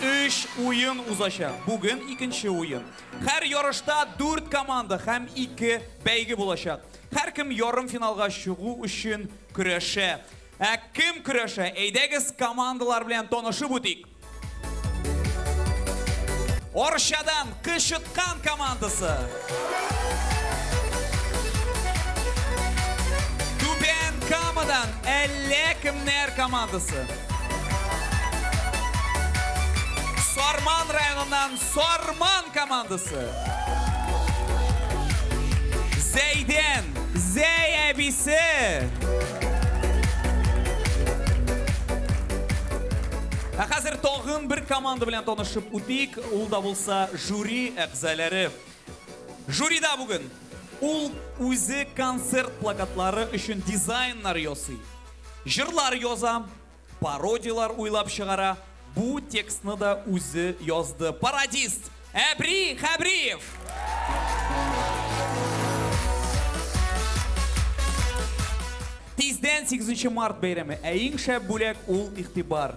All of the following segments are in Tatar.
Өч уен узачак. Бүген икенче уен. Һәр ярышта дүрт команда һәм ике бәйге булачак. Һәркем ярымфиналга чыгу өчен көрәшә. Ә кем көрәшә? Әйдәгез командалар белән танышып үтик. Арчадан Кычыткан командасы. Түбән Камадан әллә кемнәр командасы. Сарман районыннан Сарман командасы. Зәйдән Зәй әбисе. Ә хәзер тагын бер команда белән танышып үтик. Ул да булса жюри әгъзаләре. Жюрида бүген ул үзе концерт плакатлары өчен дизайннар ясый, җырлар яза, пародияләр уйлап чыгара, бу текстны да үзе язды, пародист Әбри Хәбриев! Тиздән сигезенче март бәйрәме, ә иң шәп бүләк ул игътибар.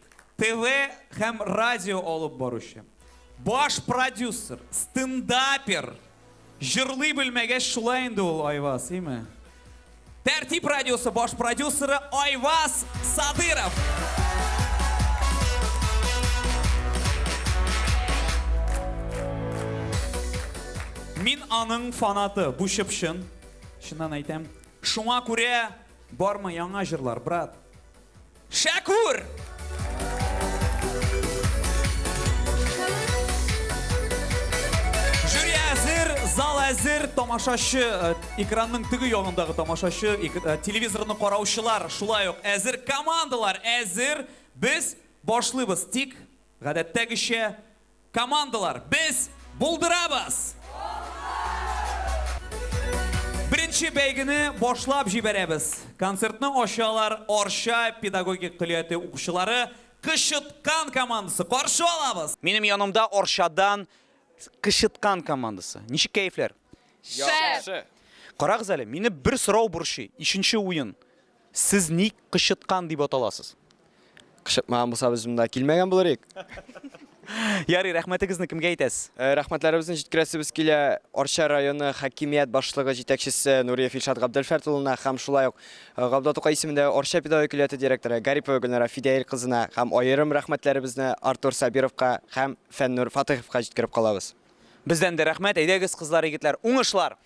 ТВ һәм радио алып баручы, баш продюсер, стендапер. Җырлый белмәгәч шулай инде ул Айваз, име? Тәртип радиосы баш продюсеры Айваз Садыров. Мин аның фанаты, бу чыпчын. Шуннан әйтәм, шуңа күрә бармы яңа җырлар, брат? Шәкүр! Жюри әзер, зал әзер, тамашачы, э, экранның теге ягындагы тамашачы, эк- э, телевизорны караучылар, шулай ук әзер, командалар әзер. Без башлыйбыз, тик гадәттәгечә Командалар, без булдырабыз! Беренче бәйгене башлап җибәрәбез. Концертны ачалар Арча педагогик көллияте укучылары Кычыткан командасы. Каршы алабыз! Минем янымда Арчадан Кычыткан командасы. Ничек кәефләр? Шәп! Карагыз әле, мине бер сорау борчый, ишенче уен. Сез ник кычыткан дип аталасыз? Кычытмаган булса без монда килмәгән булыр идек. Ярый, рәхмәтегезне кемгә әйтәсез? Э, Рәхмәтләребезне җиткерәсебез килә Арча районы хакимият башлыгы җитәкчесе Нуриев Илшат Габделфәрт улына һәм шулай ук э, Габдулла Тукай исемендәге Арча педагогик өләте директоры Гарипова Гөлнара Фидәил кызына һәм аерым рәхмәтләребезне Артур Сабировка һәм Фәннур Фатыйховка җиткереп калабыз. Бездән дә рәхмәт. Әйдәгез, кызлар, егетләр, уңышлар!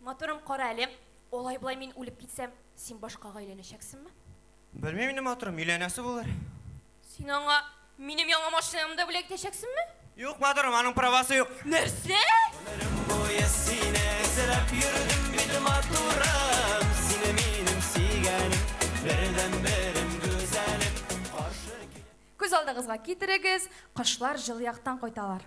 Матурым, кара әле, алай-болай мин үлеп китсәм, син башкага өйләнәчәксеңме? Белмим инде, матурым, өйләнәсе булыр. Син аңа минем яңа машинамны бүләк итәчәксеңме? Юк, матурым, аның правасы юк. Нәрсә? Гомерем буе сине эзләп йөрдем бит, матурым, сине минем сөйгәнем, бердәнберем, гүзәлем, каршы килеп. Күз алдыгызга китерегез, кошлар җылы яктан кайталар.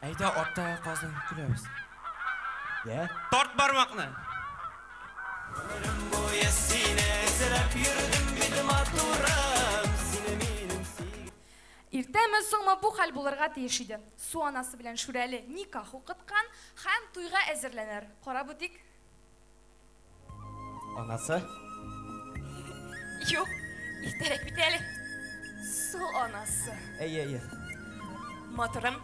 Әйдә аттагы казны көләбез. Йә. Тарт бармакны. Гомерем буе сине эзләп йөрдем бит матурым, сине минем сөйгән. Иртәме, соңмы бу хәл булырга тиеш иде. Су анасы белән Шүрәле никах укыткан һәм туйга әзерләнәр. Карап үтик. Анасы? Юк, иртәрәк бит әле. Су анасы. Әйе, әйе. Матурым,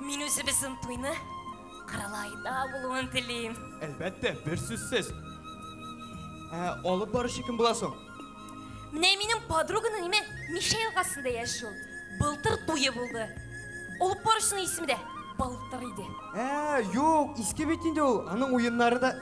мин үзебезнең туйны Кырылайда булуын телим. Әлбәттә, бер сүзсез. Ә, алып баручы кем була соң? Менә минем подруганың име Мишә елгасында яши ул. Былтыр туе булды. Алып баручының исеме дә Былтыр иде. Ә, юк, иске бит инде ул. Аның уеннары да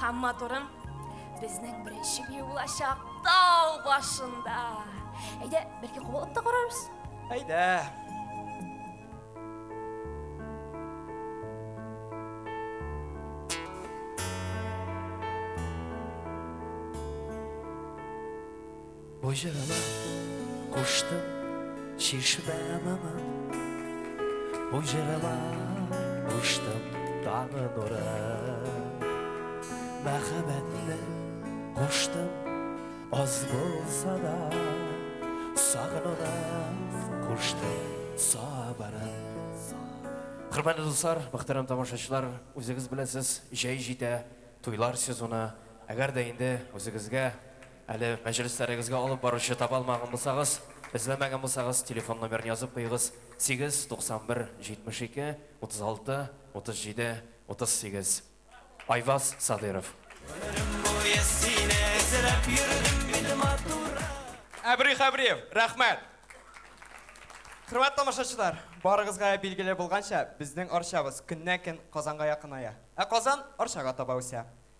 Хам матурым, безнең беренче бию булачак тау башында. Әйдә, бәлки куылып та карарбыз. Әйдә. Бу җырыма куштым чишмә моңы Бу җырыма куштым таңы нуры Мәхәббәтне куштым аз булса да Сагынуны куштым сабырын Хөрмәтле дуслар, мөхтәрәм тамашачылар, үзегез беләсез, җәй җитә, туйлар сезоны. Әгәр дә инде үзегезгә Әле мәҗлесләрегезгә алып баручы таба алмаган булсагыз, эзләмәгән булсагыз, телефон номерын язып куегыз, 8 91 72 36 37 38. Айваз Садыйров. Гомерем буе сине эзләп йөрдем мин, матурым. Әбри Хәбриев, рәхмәт! Хөрмәт тамашачылар, барыгызга я билгеле булганча, безнең Арчабыз көннән-көн Казанга якыная. Ә Казан Арчага таба үсә.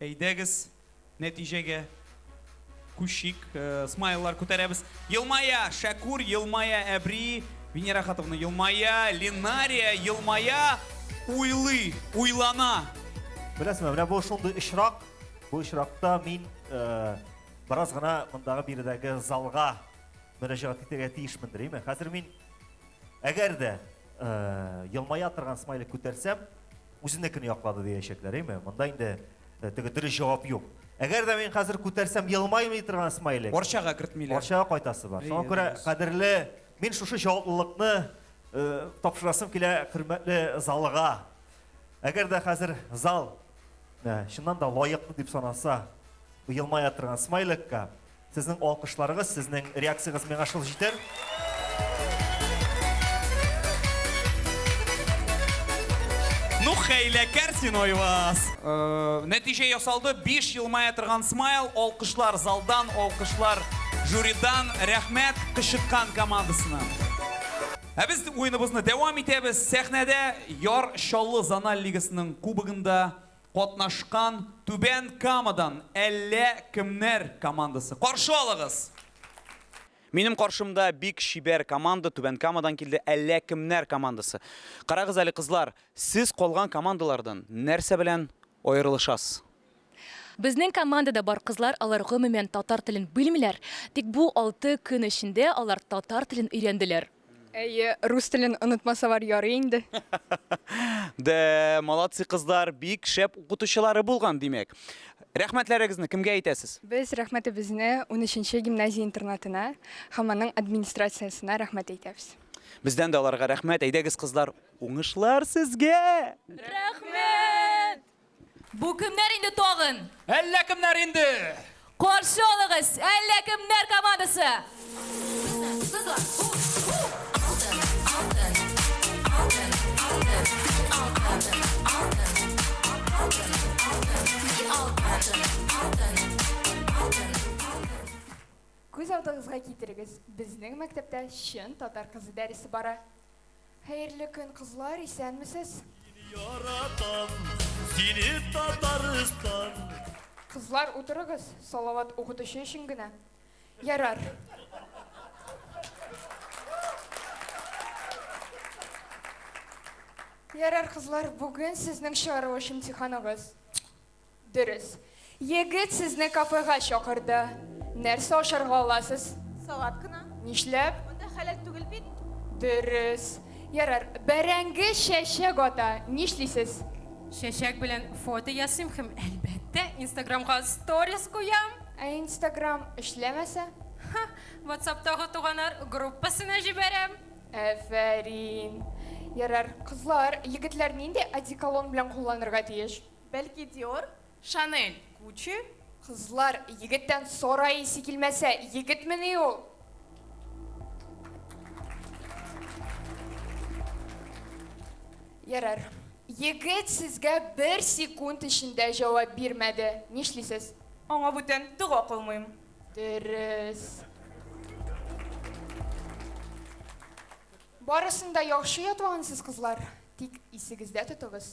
Әйдәгез, нәтиҗәгә күчик. Смайллар күтәрәбез. Елмая Шәкүр, елмая Әбри, Венера Хатовна елмая, Линария елмая, уйлый, уйлана. Беләсезме, менә бу шундый очрак, бу очракта мин бераз гына мондагы биредәге залга мөрәҗәгать итәргә тиешмендер, әйме? Хәзер мин, әгәр дә елмая торган смайлик күтәрсәм, Үзенекене яклады диячәкләр, име? Монда инде теге дөрес җавап юк. Әгәр дә мин хәзер күтәрсәм елмаймый торган смайлик. Арчага кертмиләр. Арчага кайтасы бар. Шуңа күрә кадерле, мин шушы җаваплылыкны тапшырасым килә хөрмәтле залга. Әгәр дә хәзер зал чыннан да лаеклы дип санаса елмая торган смайликка, Сезнең алкышларыгыз, сезнең реакциягыз миңа шул җитәр. Ну хәйләкәр син Айваз! Нәтиҗә ясалды, биш елмая торган смайл, алкышлар залдан, алкышлар жюридан, рәхмәт Кычыткан командасына. Ә без уеныбызны дәвам итәбез, сәхнәдә Яр Чаллы зональ лигасының кубогында Катнашкан Түбән Камадан әллә кемнәр командасы. Каршы алыгыз! Минем каршымда бик чибәр команда Түбән Камадан килде, әллә кемнәр командасы. Карагыз әле, кызлар, сез калган командалардан нәрсә белән аерылышасыз? Безнең командада бар кызлар, алар гомумән татар телен белмиләр, тик бу алты көн эчендә алар татар телен өйрәнделәр. Әйе, рус телен онытмасалар ярый инде. Дә, молодцы кызлар, бик шәп укытучылары булган, димәк. Рәхмәтләрегезне кемгә әйтәсез? Без рәхмәтебезне 13-нче гимназия интернатына һәм аның администрациясенә рәхмәт әйтәбез. Бездән дә аларга рәхмәт. Әйдәгез, кызлар, уңышлар сезгә! Рәхмәт! Бу кемнәр инде тагын? Әллә кемнәр инде! Каршы алыгыз, әллә кемнәр командасы! Күз алдыгызга китерегез, безнең мәктәптә чын татар кызы дәресе бара. Хәерле көн кызлар, исәнмесез! Сине яратам, сине Татарстан. Кызлар утырыгыз, салават укытучы өчен генә. Ярар. Ярар кызлар, бүген сезнең чыгарылыш имтиханыгыз. Дөрес. Егет сезне кафега чакырды. Нәрсә ашарга аласыз? Салат кына. Нишләп? Монда хәләл түгел бит. Дөрес. Ярар, бәрәңге чәчәк ата. Нишлисез? Чәчәк белән фото ясыйм һәм, әлбәттә, Инстаграмга сторис куям. Ә Инстаграм эшләмәсә? Ха, Ватсаптагы туганар группасына җибәрәм. Әфәрин. Ярар, кызлар, егетләр нинди одеколон белән кулланырга тиеш? Бәлки Диор, Шанель, Гуччи? Кызлар, егеттән сарай исе килмәсә, егетмени ул? Ярар. Егет сезгә бер секунд эчендә җавап бирмәде. Нишлисез? Аңа бүтән дога кылмыйм. Дөрес. Барысын да яхшы ятлагансыз, кызлар. Тик исегездә тотыгыз,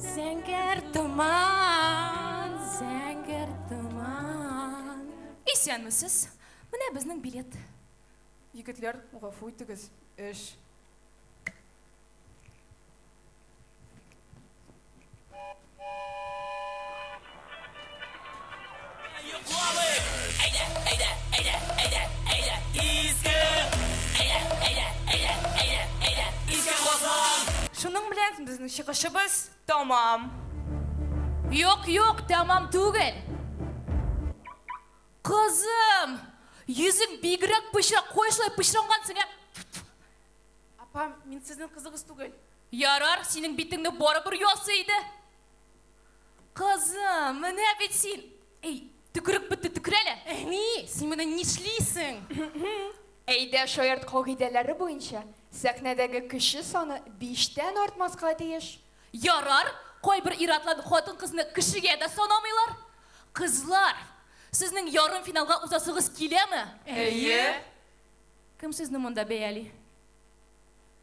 Зәңгәр томан, зәңгәр томан. Исәнмесез. Менә безнең билет. Егетләр, гафу итегез, эш. Шуның белән безнең чыгышыбыз тәмам. Юк, юк, тәмам түгел. Кызым, йөзең бигрәк пычрак, кая шулай пычрангансың, ә? Апа, мин сезнең кызыгыз түгел. Ярар, синең битеңне барыбер ясый иде. Кызым, менә бит син! Әй, төкерек бетте, төкер әле! Әни, син менә нишлисең? Әйдә, шаярт кагыйдәләре буенча, сәхнәдәге кеше саны биштән артмаска тиеш. Ярар, кайбер ир-атлар хатын-кызны кешегә дә санамыйлар. Кызлар, сезнең ярымфиналга узасыгыз киләме? Әйе. Кем сезне монда бәяли?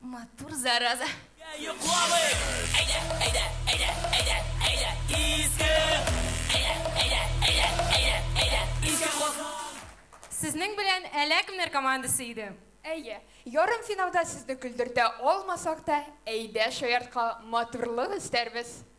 Матур зараза. Сезнең белән әлә кемнәр командасы иде? Әйе, ярымфиналда сезне көлдертә алмасак та, әйдә шаяртка матурлык өстәрбез.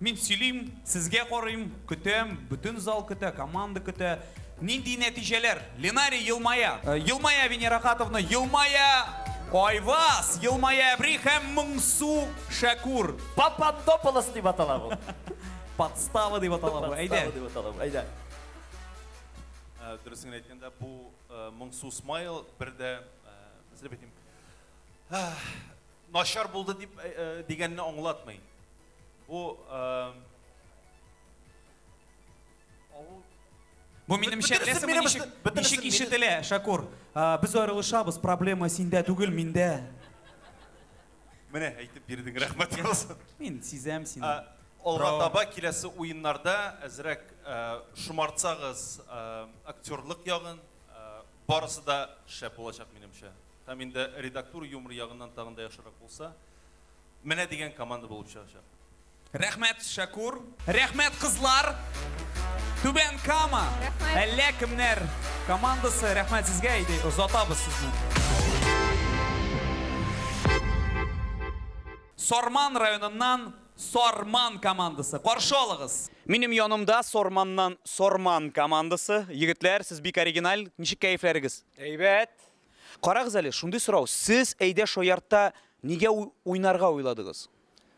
Мин сөйлим, сезгә карыйм, көтәм, бөтен зал көтә, команда көтә. Нинди нәтиҗәләр? Ленарий елмая. Елмая Венера Хатовна, елмая Айваз, елмая Әбри һәм Моңсу Шәкүр. Папандополос дип атала бу. Подстава дип атала бу. Әйдә. Подстава дип атала бу. Әйдә. Дөресен әйткәндә, бу моңсу смайл бер дә нәрсә дип әйтим, начар булды дип дигәнне аңлатмый. Бу эм, авыл Бу минемчә Бөтенесен беләсеңме минем ничек, өстә- бөтенесен ничек минем- ишетелә, Шакур? А, Без аерылышабыз, проблема синдә түгел, миндә. менә әйтеп бирдең, рәхмәт булсын. Мин сизәм сине. Ә, Алга Браво. таба киләсе уеннарда әзрәк ә, шомартсагыз ә, актерлык ягын, ә, барысы да шәп булачак минемчә. Һәм инде редактур юмор ягыннан тагын да яхшырак булса, Менә дигән команда булып чыгачак. Рәхмәт, Шәкур. Рәхмәт, кызлар. Түбән Кама. Рәхмәт. Әллә кемнәр командасы. Рәхмәт сезгә, әйди, озатабыз сезне. Сарман районыннан Сарман командасы. Каршы алыгыз. Минем янымда Сарманнан Сарман командасы. Егетләр, сез бик оригиналь. Ничек кәефләрегез? Әйбәт. Карагыз әле, шундый сорау, сез Әйдә шаяртта нигә уйнарга уйладыгыз?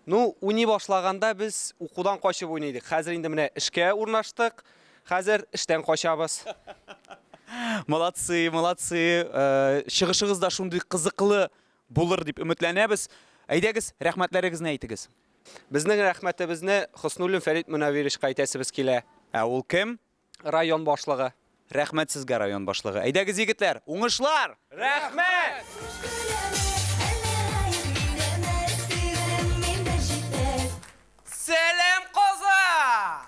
Ну, уйный башлаганда без укудан качып уйныйдык. Хәзер инде менә эшкә урнаштык. Хәзер эштән качабыз. Молодцы, молодцы. Э, чыгышыгыз да шундый кызыклы булыр дип өметләнәбез. Әйдәгез, рәхмәтләрегезне әйтегез. Безнең рәхмәтебезне Хоснуллин Фәрит Мөнәвировичка әйтәсебез килә. Ә ул кем? район башлыгы. Рәхмәт сезгә, район башлыгы. Әйдәгез, егетләр, уңышлар! Рәхмәт! Сәлам, Казан!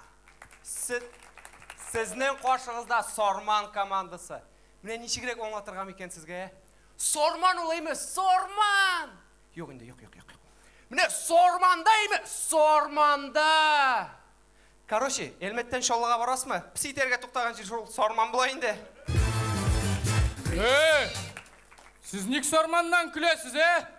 Сезнең каршыгызда Сарман командасы. Менә ничегрәк аңлатырга микән сезгә, ә? Сарман ул әйме, Сарман! Юк инде, юк, юк, юк. Менә Сарманда әйме, Сарманда! Короче, Әлмәттән Чаллыга барасмы? Песи итәргә туктаган җир шул Сарман була инде. Эй! Сез ник Сарманнан көләсез, ә?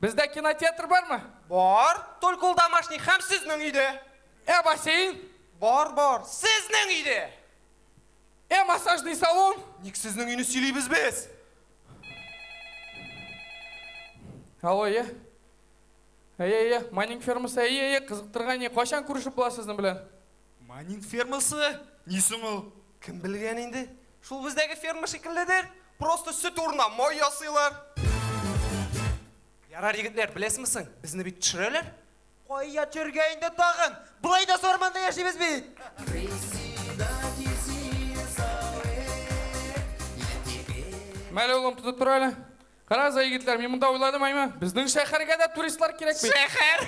Бездә кинотеатр бармы? Бар, только ул домашний һәм сезнең өйдә. Ә бассейн? Бар, бар, сезнең өйдә. Ә массажный салон? Ник сезнең өйне сөйлибез без? Алло, әйе. Әйе, әйе, майнинг фермасы, әйе, әйе, кызыктырган, әйе. Кайчан күрешеп була сезнең белән? Манин фермасы? Ни соң ул? Кем белгән инде? Шул бездәге ферма шикелледер. Просто сөт урынына май ясыйлар. Ярар, егетләр, беләсезме соң, безне бит төшерәләр. Кая төшерергә инде тагын? Болай да сарманда яшибез бит. Мәле, улым, тотып тор әле. Карагыз, егетләр, мин монда уйладым, әйме? Безнең шәһәргә дә туристлар кирәк бит. Шәһәр!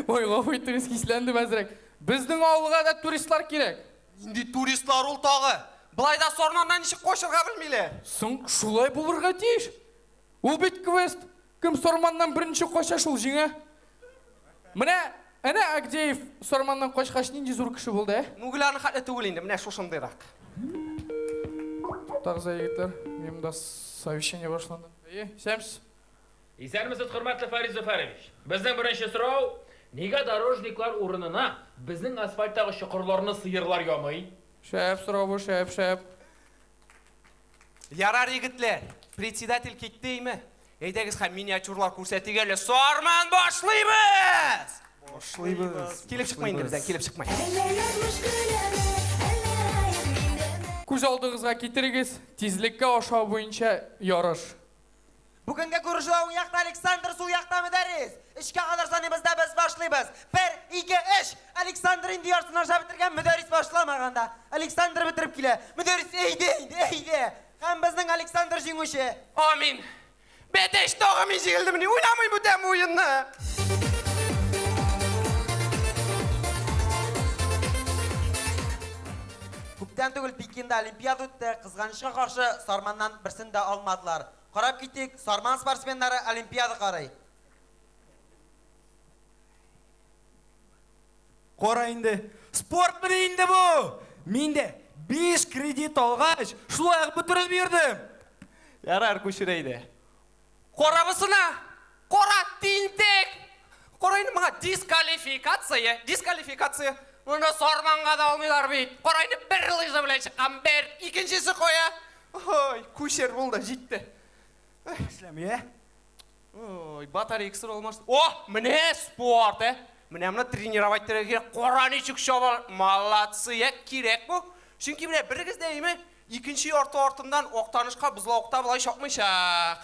Ой, гафу итегез, хисләндем әзрәк. Безнең авылга да туристлар кирәк. Нинди туристлар ул тагы? Болай да сорнаннан ничек качырга белмиләр. Соң шулай булырга тиеш. Ул бит квест. Кем сорманнан беренче кача, шул җиңә. Менә, әнә Агдеев Сарманнан качкач нинди зур кеше булды, ә? Мүгеларның хәтле түгел инде, менә шушындыйрак. Туктагыз әле, егетләр, минем дә совещание башланды. Әйе, исәнмесез. Исәнмесез, хөрмәтле Фарис Зөфәрович! Безнең беренче сорау, нигә дорожниклар урынына безнең асфальттагы чокырларны сыерлар ямый? Шәп сорау бу, шәп, шәп. Ярар, егетләр, председатель китте име? Әйдәгез һәм миниатюрлар күрсәтик әле. Сарман башлыйбыз! Башлыйбыз. Килеп чыкмый инде бездән, килеп чыкмый. Күз алдыгызга китерегез, тизлеккә ашау буенча ярыш. Бүгенге күрешү уң якта Александр, сул якта Мөдәррис. Өчкә кадәр саныйбыз да без башлыйбыз. Бер, ике, өч! Александр инде яртысын аша бетергән, Мөдәррис башламаган да. Александр бетереп килә. Мөдәррис, әйдә инде, әйдә! Һәм безнең Александр җиңүче! Амин! Бәтәч, тагы мин җигелдемени? Уйнамыйм бүтән бу уенны! Күптән түгел Пекинда Олимпиада үтте, кызганычка каршы, Сарманнан берсен дә алмадылар. Карап китик, Сарман спортсменнары олимпиада карый. Кара инде, спортмыни инде бу? Мин дә биш кредит алгач, шулай ук бөтереп йөрдем. Ярар, күчер әйдә. Карабызсына, Кара тинтәк! Кара инде моңа, дискалификация, дискалификация! Моны сарманга да алмыйлар бит! Кара инде, бер лыжа белән чыккан, бер, икенчесе кая? Ой, күчер булды, җитте. Эшләми, ә? Ой, батарейкасы да алмаш... О, менә спорт, ә! Менә моны тренировать итәргә кирәк. Кара ничек чаба! Молодцы, ә! Кирәк бу! Чөнки менә берегез дә име, икенче ярты артыннан Актанышка бозлавыкта болай чапмыйчак.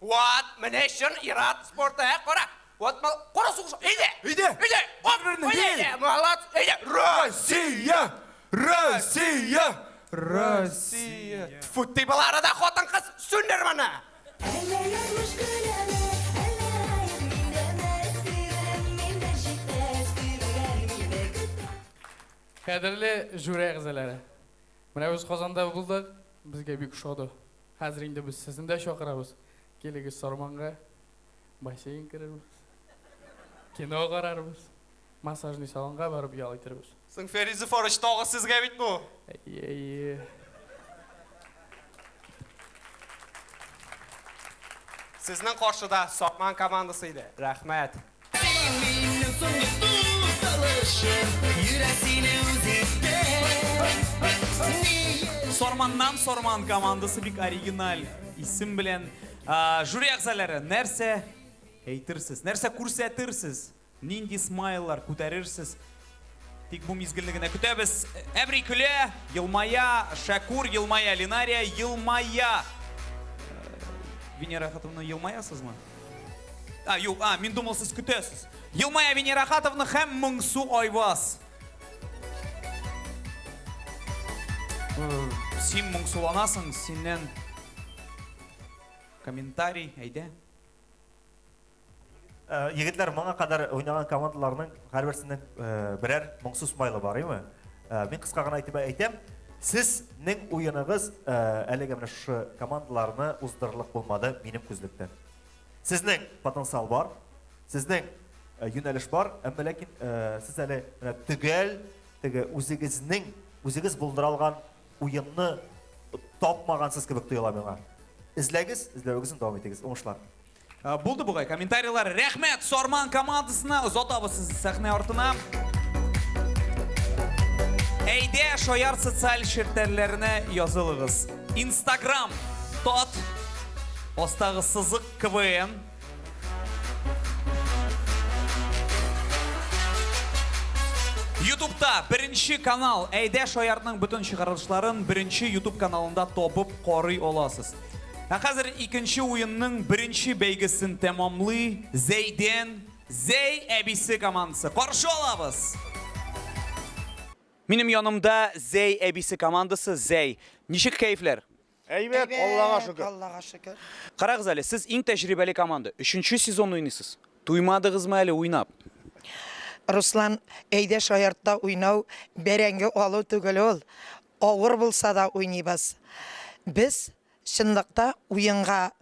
Ват, менә чын ират спорты, ә, кара. Ват, мал, кара сугыш. Әйдә! Әйдә! Әйдә! Оп, әйдә, әйдә, малат, әйдә. Россия! Россия! Россия! Тфу, ти бала арада хатын кыз, сүндер моны! Әллә язмыш көләме, әллә гаеп миндәме, сөйләм миндә җитмәс, көйләр мине көтә. Кадерле жюри әгъзалары! Менә без Казанда булдык, безгә бик ошады. Хәзер инде без сезне дә чакырабыз. Килегез Сарманга. Бассейн керербез. Кино карарбыз. Массажный салонга барып ял итербез. Соң Фәри Зөфарыч тагы сезгә бит бу. Әйе, әйе. Сезнең каршыда Сарман командасы иде. Рәхмәт. Син минем соңгы дус алышым, йөрәк сине үз итте. Ни өчен? Сарманнан Сарман командасы бик оригиналь исем белән. Жюри әгъзаләре, нәрсә әйтерсез, нәрсә күрсәтерсез, нинди смайллар күтәрерсез, Тик бу мизгелне генә көтәбез. Әбри көлә, елмая, Шәкур елмая, Линария елмая. Венера хатынны елмаясызмы? А, юк, а, мин думал, сез көтәсез. Елмая Венера хатовны һәм Моңсу Айваз. Син моңсуланасың, синнән комментарий, әйдә. Э, егетләр моңа кадәр уйнаган командаларның һәрберсенең э, берәр моңсу смайлы бар име э, мин кыска гына әйтеп әйтәм сезнең уеныгыз әлеге менә шушы командаларны уздырырлык булмады минем күзлектән сезнең потенциал бар сезнең юнәлеш бар әмма ләкин сез әле менә төгәл теге үзегезнең үзегез булдыра алган уенны тапмагансыз кебек тоела миңа эзләгез эзләвегезне дәвам итегез уңышлар Булды бугай комментарийлар. Рәхмәт Сарман командасына. Озатабыз сезне сәхнә артына. Әйдә, шаяр социаль челтәрләренә язылыгыз. Instagram тот астагы сызык КВН. Ютубта беренче канал. Әйдә, шаярның бөтен чыгарылышларын беренче Ютуб каналында табып карый аласыз. Ә хәзер икенче уенның беренче бәйгесен тәмамлый Зәйден Зәй әбисе командасы. Каршы алабыз! Минем янымда Зәй әбисе командасы Зәй. Ничек кәефләр? Әйбәт, Аллага шөкер. Аллага шөкер. Карагыз әле, сез иң тәҗрибәле команда. Өченче сезон уйныйсыз. Туймадыгызмы әле уйнап? Руслан, әйдә шаяртта уйнау, бәрәңге алу түгел ул. Авыр булса да уйныйбыз. Без чынлыкта уенга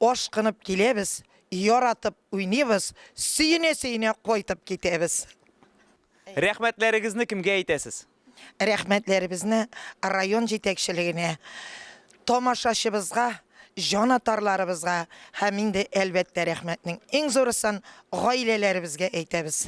ашкынып киләбез, яратып уйныйбыз, сөенә-сөенә кайтып китәбез. Рәхмәтләрегезне кемгә әйтәсез? Рәхмәтләребезне район җитәкчелегенә, тамашачыбызга, җанатарларыбызга һәм инде, әлбәттә, рәхмәтнең иң зурысын гаиләләребезгә әйтәбез.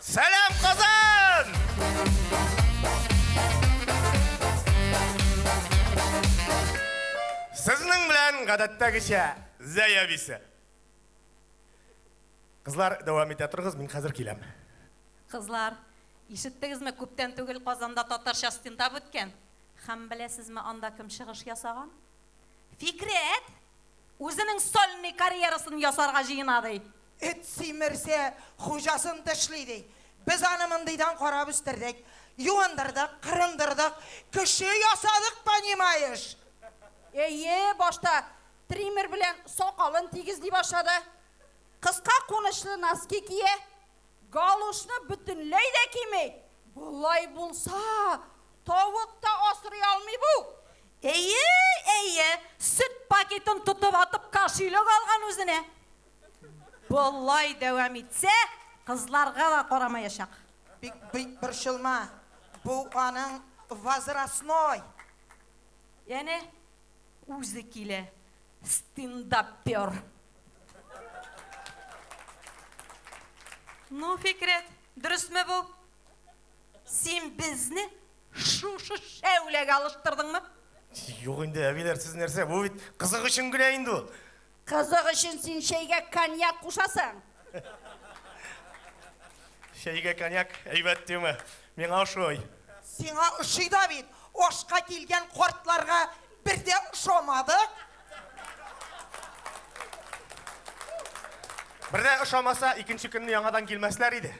Сәлам Казан! Сезнең белән гадәттәгечә Зәя бисә. Кызлар, дәвам итә торыгыз, мин хәзер киләм. Кызлар, ишеттегезме, күптән түгел Казанда татарча стендап үткән. Һәм беләсезме, анда кем чыгыш ясаган? Фикрәт! Үзенең сольный карьерасын ясарга җыена, ди. Эт симерсә, хуҗасын тешли, ди. Без аны мондыйдан карап үстердек. Юындырдык, кырындырдык, кеше ясадык, понимаешь? Әйе, башта триммер белән сакалын тигезли башлады. Кыска кунычлы носки кия. Галошны бөтенләй дә кими. Болай булса, тавык та асрый алмый бу. Әйе, әйе, сөт пакетын тотып атып кашилек алган үзенә. Болай дәвам итсә, кызларга да карамаячак. Бик, бик борчылма, бу аның возрастной. Әнә, үзе килә, стендапер. Ну, Фикрәт, дөресме бу? Син безне шушы шәүләгә алыштырдыңмы? Юк инде, әбиләр, сез нәрсә? Бу бит кызык өчен генә инде ул. Кызык өчен син чәйгә коньяк кушасың. Чәйгә коньяк әйбәт диме? Миңа ошый. Сиңа ошый да бит. Ашка килгән картларга бер дә ошамады. Бердә ошамаса, икенче көнне яңадан килмәсләр иде.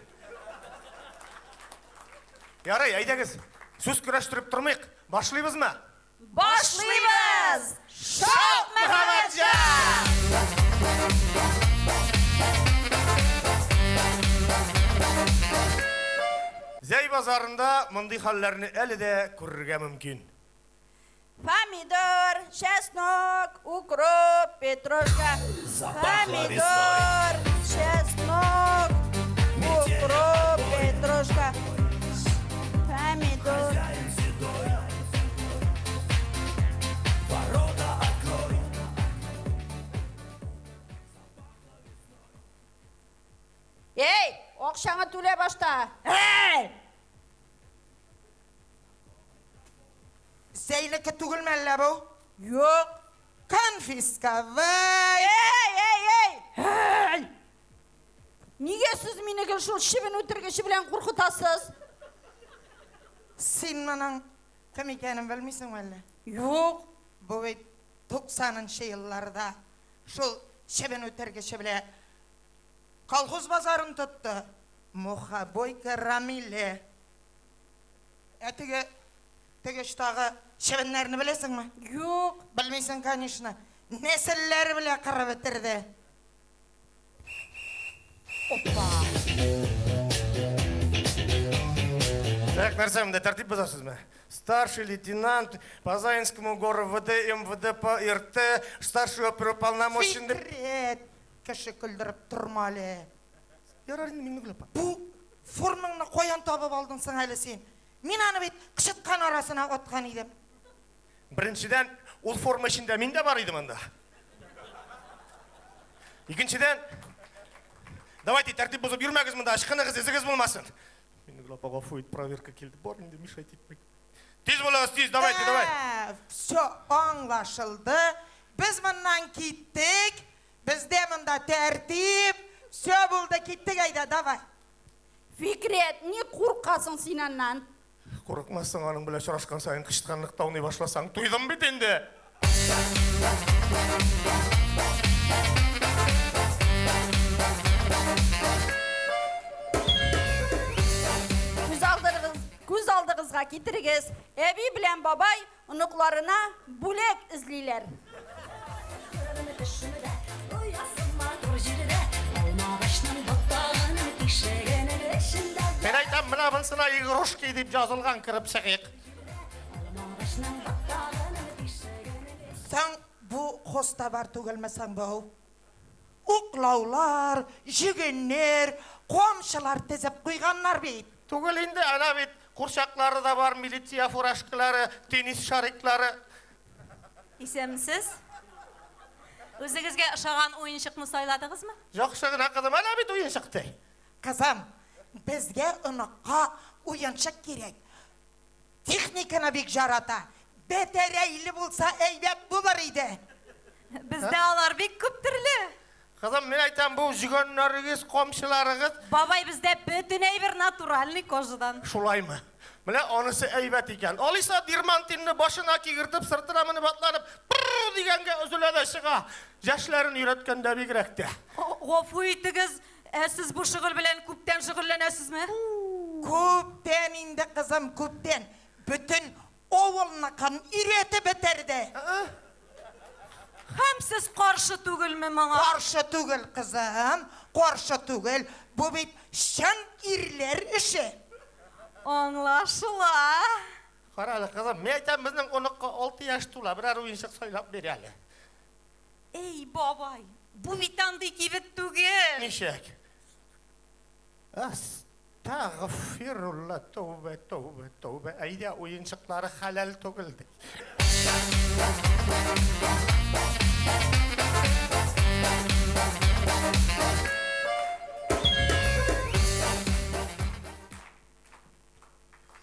Ярый, әйдәгез, сүз көрәштереп тормыйк, башлыйбызмы? Башлыйбыз! Шок Мөхәммәтҗан! Зәй базарында мондый хәлләрне әле дә күрергә мөмкин. Помидор, чеснок, укроп, петрушка. Помидор, чеснок, укроп, петрушка. Помидор. Эй, акчаңа түлә башта. Эй! Зәйнеке түгелме әллә бу? Юк. Конфисковать! Эй, эй, эй! Эй! Нигә сез мине гел шул чебен үтергече белән куркытасыз? Син моның кем икәнен белмисеңме әллә? Юк. Бу бит 90-нчы елларда шул чебен үтергече белән колхоз базарын тотты. Мухобойка Рамиле. Ә теге теге штагы чебеннәрне беләсеңме? Юк. Белмисең, конечно. Нәселләр белә кырып бетерде. Опа. Так, нәрсә монда тәртип бозасызмы? Старший лейтенант по Заинскому гору ВД МВД по РТ, старший оперуполномоченный... Фикрет! Кеше көлдереп торма әле. Ярар инде, мин гүләп. Бу Фурныңны каян табып алдың соң әле син? Мин аны бит кычыткан арасына аткан идем. Беренчедән, ул форма эчендә мин дә бар идем анда. Икенчедән, давайте тәртип бозып йөрмәгез монда, ычкыныгыз, эзегез булмасын. Мин генә апа гафу ит, проверка килде. Бар инде, мешать итмик. Тиз булыгыз, тиз, давайте, давай. Все, аңлашылды. Без моннан киттек. Бездә монда тәртип, все булды, киттек әйдә, давай. Фикрәт, ник куркасың син аннан? Курыкмассың, аның белән очрашкан саен кычытканлыкта уйный башласаң, туйдым бит инде! Күз алдыгызга китерегез, әби белән бабай Оныкларына бүләк эзлиләр. Мин әйтәм, менә монсына игрушки дип язылган, кереп чыгыйк. Соң бу хостовар түгелме соң бу? Уклаулар, җөгеннер, камчылар тезеп куйганнар бит. Түгел инде, әнә бит курчаклары да бар, милиция фуражкалары, теннис шариклары. Исәнмесез. Үзегезгә ошаган уенчыкны сайладыгызмы? Яхшы гына, кызым, әнә бит уенчык, ди. Кызым, безгә оныкка уенчык кирәк. Техниканы бик җарата. Бәтәрәйле булса әйбәт булыр иде. Бездә алар бик күп төрле. Кызым, мин әйтәм, бу җөгәннәрегез, камчыларыгыз. Бабай, бездә бөтен әйбер натуральный кожадан. Шулаймы? Менә анысы әйбәт икән. Алиса дермантинны башына кигертеп, сыртына менеп атланып, пырр дигәнгә өзелә дә чыга. Яшьләрен өйрәткәндә бигрәк тә. Гафу итегез, ә сез бу шөгыль белән күптән шөгыльләнәсезме? Күптән инде, кызым, күптән. Бөтен Авылныкын иретеп бетерде. Һәм сез каршы түгелме моңа? Каршы түгел, кызым, каршы түгел. Бу бит чын ирләр эше. Аңлашыла. Кара әле, кызым, мин әйтәм, безнең оныкка алты яшь тула, берәр уенчык сайлап бир әле. Әй, бабай, бу бит андый кибет түгел. Ничек? Тагъфирулла, тәүбә, тәүбә, тәүбә, әйдә, уенчыклары хәләл түгел, ди.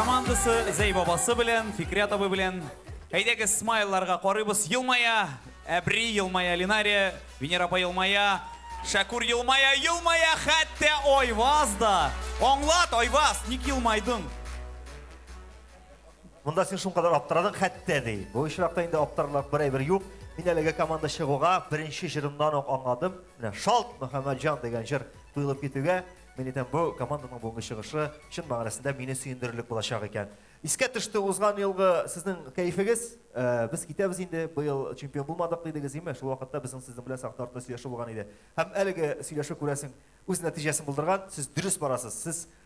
командасы Зәй бабасы белән, Фикрят абый белән. Әйдәгез смайларга карыйбыз. Елмая, Әбри елмая, Линария, Венера апа елмая, Шәкур елмая, елмая хәтта Айваз да. Аңлат, Айваз, ник елмайдың? Монда син шуңкадар аптырадың хәтта ди. Бу очракта инде аптырарлык бер әйбер юк. Мин әлеге команда чыгуга беренче җырымнан ук аңладым. Менә Шалт Мөхәммәтҗан дигән җыр туелып китүгә, мин әйтәм, бу команданың бүгенге чыгышы чын мәгънәсендә мине сөендерерлек булачак икән. Искә төште узган елгы сезнең кәефегез. Э, без китәбез инде, быел чемпион булмадык дидегез, име? Шул вакытта безнең сезнең белән сахна артында сөйләшү булган иде. Һәм әлеге сөйләшү күрәсең үз нәтиҗәсен булдырган. Сез дөрес барасыз. Сез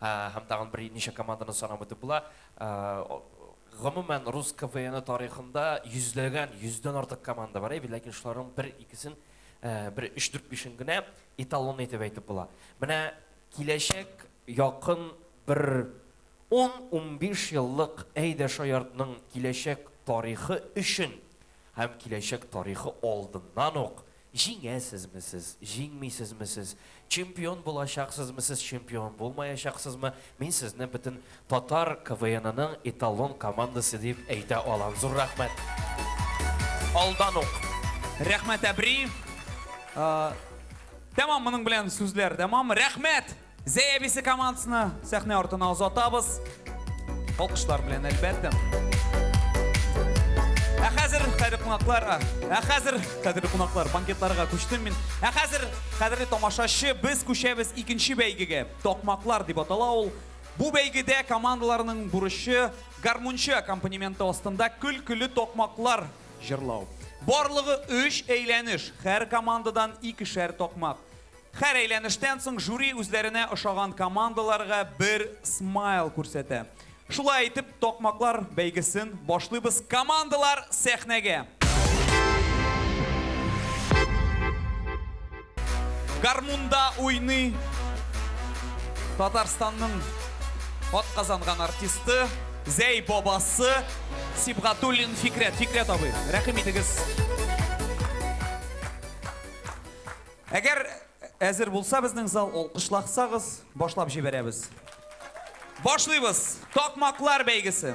Һәм тагын берничә команданы санап үтеп була. Гомумән, рус КВНы тарихында йөзләгән, йөздән артык команда бар, әйе, ләкин шуларның бер-икесен, бер өч-дүрт-бишен генә эталон итеп әйтеп була. Менә киләчәк якын бер ун-унбиш еллык Әйдә шаяртның киләчәк тарихы өчен һәм киләчәк тарихы алдыннан ук Җиңәсезме сез, җиңмисезме сез, чемпион булачаксызмы сез, чемпион булмаячаксызмы, мин сезне бөтен татар КВНының эталон командасы дип әйтә алам. Зур рәхмәт алдан ук! Рәхмәт әбри. Тәмам, моның белән сүзләр тәмам. Рәхмәт! Зәй әбисе командасына сәхнә артына озатабыз. Алкышлар белән әлбәттә. Ә хәзер кадерле кунаклар, ә хәзер кадерле кунаклар, банкетларга күчтем мин. Ә хәзер кадерле тамашачы, без күчәбез икенче бәйгегә. Токмаклар дип атала ул. Бу бәйгедә командаларның бурычы гармунчы аккомпанементы астында көлкеле токмаклар җырлау. Барлыгы өч әйләнеш, һәр командадан икешәр токмак. Һәр әйләнештән соң жюри үзләренә ошаган командаларга бер смайл күрсәтә. Шулай итеп, такмаклар бәйгесен башлыйбыз. Командалар сәхнәгә! Гармунда уйный Татарстанның атказанган артисты, Зәй бабасы Сибгатуллин Фикрәт. Фикрәт абый, рәхим итегез! Әгәр әзер булса безнең зал, алкышлаксагыз, башлап җибәрәбез. Башлыйбыз! Такмаклар бәйгесе!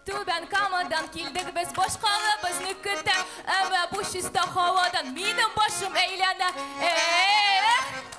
Түбән Камадан килдек без башкалыбызны көтә, әмма бу чиста һавадан минем башым әйләнә. Эх!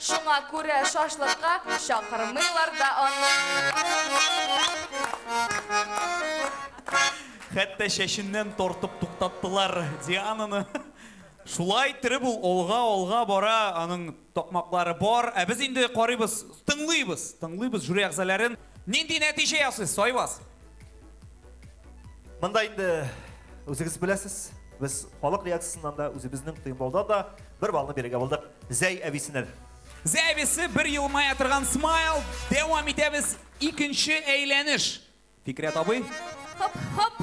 Шуңа күрә шашлыкка чакырмыйлар да аны. Хәтта чәченнән тартып туктаттылар Диананы. Шулай иттереп ул алга-алга бара, аның такмаклары бар. Ә без инде карыйбыз, тыңлыйбыз, тыңлыйбыз жюри әгъзаләрен. Нинди нәтиҗә ясыйсыз, Айваз? Монда инде үзегез беләсез, без халык реакциясеннән дә, үзебезнең тыймбалда да бер балны бирергә булдык Зәй әбисенә. Зәй әбисе бер елмая торган смайл. Дәвам итәбез. Икенче әйләнеш. Фикрәт абый. Хоп, хоп.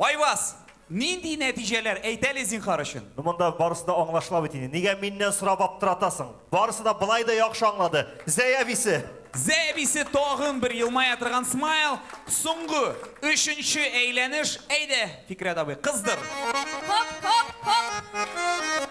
Айваз! Нинди нәтиҗәләр? Әйт әле, зинхар өчен. Ну монда барысы да аңлашыла бит инде. Нигә миннән сорап аптыратасың? Барысы да болай да яхшы аңлады. Зәй әбисе! Зәй әбисе тагын бер елмая торган смайл. Соңгы, өченче әйләнеш. Әйдә, Фикърят абый, кыздыр! Хоп-хоп-хоп!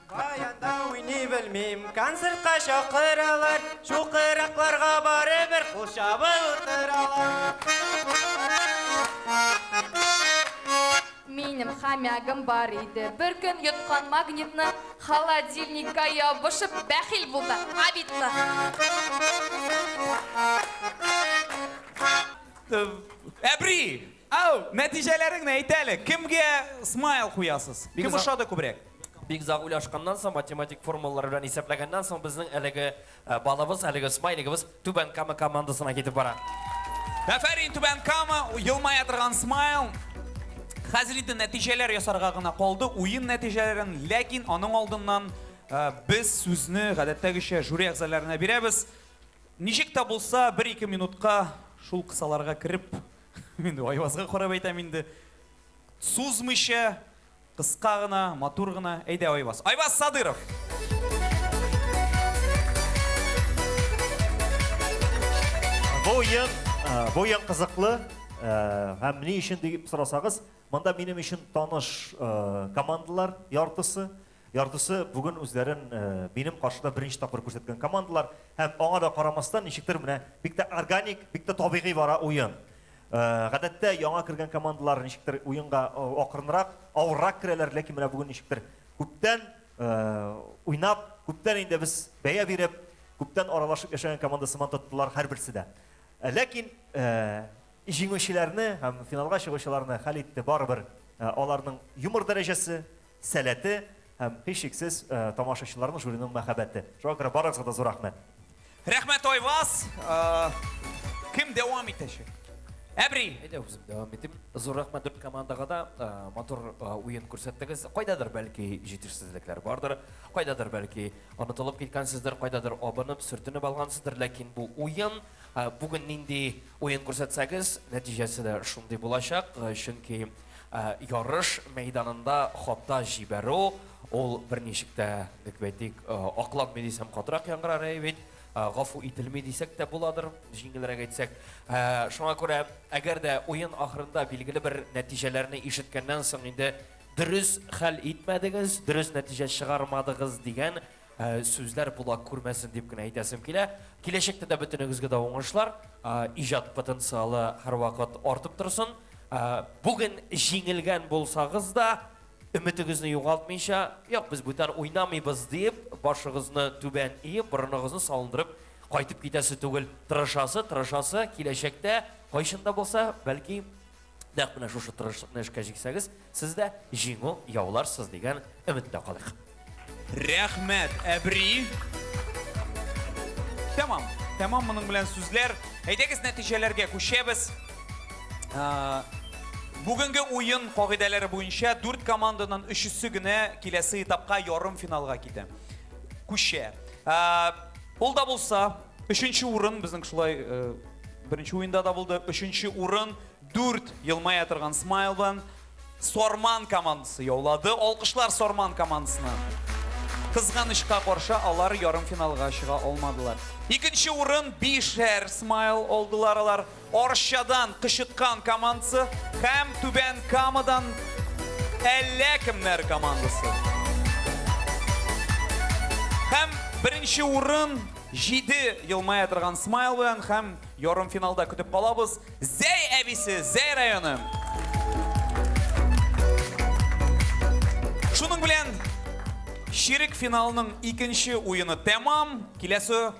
Каянда уйный белмим, концертка чакыралар, чукыракларга барыбер кул чабып утыралар. Минем хомягым бар иде, бер көн йоткан магнитны, холодильникка ябышып бәхил булды, обидно. Әбри! Ау, нәтиҗәләреңне әйт әле, кемгә смайл куясыз? Кем Бигза- ошады күбрәк? Бик озак уйлашканнан соң, математик формулалар белән исәпләгәннән соң, безнең әлеге балыбыз, әлеге смайлигыбыз Түбән Кама командасына китеп бара. Афәрин, Түбән Кама, елмая торган смайл. Хәзер инде нәтиҗәләр ясарга гына калды, уен нәтиҗәләрен, ләкин аның алдыннан без сүзне гадәттәгечә жюри әгъзаларына бирәбез. Ничек тә булса, бер-ике минутка шул кысаларга кереп, мин Айвазга карап әйтәм инде, сузмыйча, Кыска гына, матур гына. Әйдә, Айваз. Айваз Садыров! Бу уен, бу уен кызыклы. Һәм ни өчен дип сорасагыз, монда минем өчен таныш командалар яртысы. Яртысы бүген үзләрен минем каршыда беренче тапкыр күрсәткән командалар. Һәм аңа да карамастан, ничектер менә бик тә органик, бик тә табигый бара уен. Гадәттә, яңа кергән командалар ничектер уенга акрынрак, авыррак керәләр, ләкин менә бүген ничектер күптән уйнап, күптән инде без бәя биреп, күптән аралашып яшәгән команда сыман тоттылар һәрберсе дә. Ләкин җиңүчеләрне һәм финалга чыгучыларны хәл итте барыбер аларның юмор дәрәҗәсе, сәләте һәм, һичшиксез, тамашачыларның, жюриның мәхәббәте. Шуңа күрә барыгызга да зур рәхмәт! Рәхмәт, Айваз! Кем дәвам итәчәк? Әбри! Әйдә, үзем дәвам итим. Зур рәхмәт дүрт командага да. Матур уен күрсәттегез. Кайдадыр, бәлки, җитешсезлекләр бардыр, кайдадыр, бәлки, онытылып киткәнсездер, кайдадыр абынып, сөртенеп алгансыздыр, ләкин бу уен. Бүген нинди уен күрсәтсәгез, нәтиҗәсе дә шундый булачак, чөнки Ярыш мәйданында хата җибәрү, ул берничек тә, дип әйтик, акланмый дисәм катырак яңгырар әй бит, гафу ителми дисәк тә буладыр, җиңелрәк әйтсәк. Шуңа күрә, әгәр дә уен ахырында билгеле бер нәтиҗәләрне ишеткәннән соң инде дөрес хәл итмәдегез, дөрес нәтиҗә чыгармадыгыз дигән Сүзләр колак күрмәсен дип кенә әйтәсем килә. Киләчәктә дә бөтенегезгә дә уңышлар, иҗат потенциалы һәрвакыт артып торсын. Бүген җиңелгән булсагыз да, өметегезне югалтмыйча, Юк, без бүтән уйнамыйбыз, диеп, башыгызны түбән иеп, борыныгызны салындырып кайтып китәсе түгел. Тырышасы, тырышасы, киләчәктә, кайчан да булса, бәлки, Нәкъ менә шушы тырышлыкны эшкә җиксәгез, сез дә җиңү яуларсыз дигән өметтә калыйк. Рәхмәт, әбри. Тәмам, тәмам моның белән сүзләр. Әйдәгез нәтиҗәләргә күчәбез. Ә, Бүгенге уен кагыйдәләре буенча дүрт команданың өчесе генә киләсе этапка ярым финалга китә. Күчә. Ә, Ул да булса, Өченче урын безнең шулай э, беренче уенда да булды. Өченче урын дүрт елмая торган смайл белән Сорман командасы яулады. Алкышлар Сорман командасына. Кызганычка каршы алар ярым финалга чыга алмадылар. Икенче урын Бишәр Смайл алдылар алар. Арчадан кычыткан командасы һәм Түбән Камадан әллә кемнәр командасы. Һәм беренче урын җиде елмая торган смайл белән һәм ярымфиналда көтеп калабыз Зәй әбисе, Зәй районы. Шуның белән чирек финалның икенче уены тәмам. Киләсе